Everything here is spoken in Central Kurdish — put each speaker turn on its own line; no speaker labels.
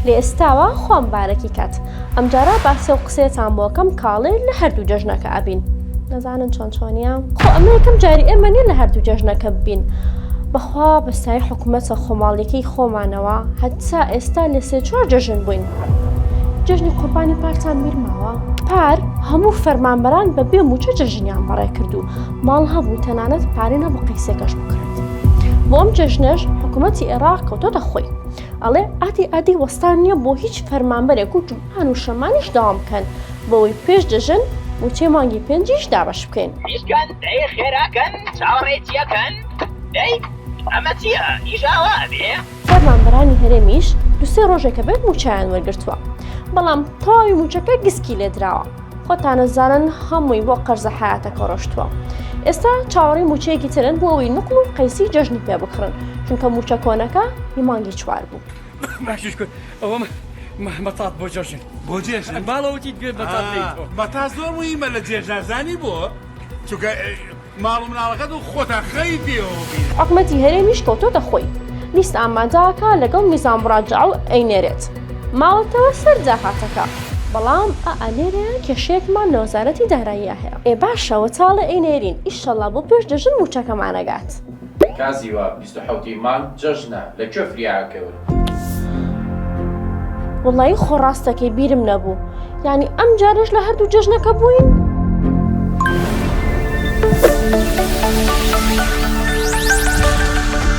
لە ئێستاوە خۆم بارەکی کات ئەمجارە باسی و قسەیەتان بۆکەم کاڵێ لە هەردوو جەژنەکە ئەبین نەزانن چۆن چۆنیە خۆ ئەمە یەکەم جاری ئێمە نیە لە هەردوو جەژنەکە ببین بەخوا بەسای حکوومەتە خۆماڵیەکەی خۆمانەوە هەتا ئێستا لە سێ چوار جەژن بووین جەژنی قوربانی پارتان میرماوە پار هەموو فەرمانبەران بە بێ موچە جەژنیان بەڕێ کرد و ماڵ هەبوو تەنانەت پارێ نەبوو قەیسێکەش بکڕێت بۆم جەژنەش حکوومەتی عێراق کەوتۆتە خۆی ئەڵێ ئاتی ئادی وەستان نییە بۆ هیچ فەرمانبەرێک و جوان و شەمانیش داوام بکەن بۆەوەی پێش دەژن وچێ مانگی پێنجیش دابش بکەین ئیشکەن دەی
خێراکەن چاوەڕێی چیەکەن دەی ئەمە چیە ئیشاوا بێ فەرمانبەرانی
هەرێمیش دوسێ ڕۆژێکە بێت موچەیان وەرگتووە بەڵام تەواوی موچەکە گسکی لێدراوە خۆتانەزانن هەمووی بۆ قەرزە حیاتەکە ڕۆشتووە ئێستا چاوەڕی موچەیەکی ترن بۆ ئەوی نقل و قەیسی جەژنی پێ بکڕن چونکە موچە کۆنەکە هی مانگی چوار بوو ئەوە
مەتات بۆ جەژن بۆ جێژن
باڵەوتی گوێ
بەتا زۆر
مهمە لە جێژنازانی بۆ چونکە ماڵ و مناڵەکەت و خۆتان خەوی پێوە بینن. حکومەتی هەرێمیش
کەوتۆتە خۆی لیست ئامادەئەکا لەگەڵ نیزام مراجعە و ئەینێرێت ماوەتەوە سەر داهاتەکە بەڵام ئا ئەنێرە کێشەیەکمان لە وەزارەتی داراییا هەیە ئێ باشە وەتاڵێ ئەینێرین ئیشەڵا بۆ پێش دەژن موچەکەمان ئەگات. کازی
واب بیست و حەوت ی مانگ جەژنە لە کوێ فریاە کەون.
وەڵایی خۆ ڕاست دەکەی بیرم نەبوو یانی ئەم جارەش لە هەردوو جەژنەکە بووین؟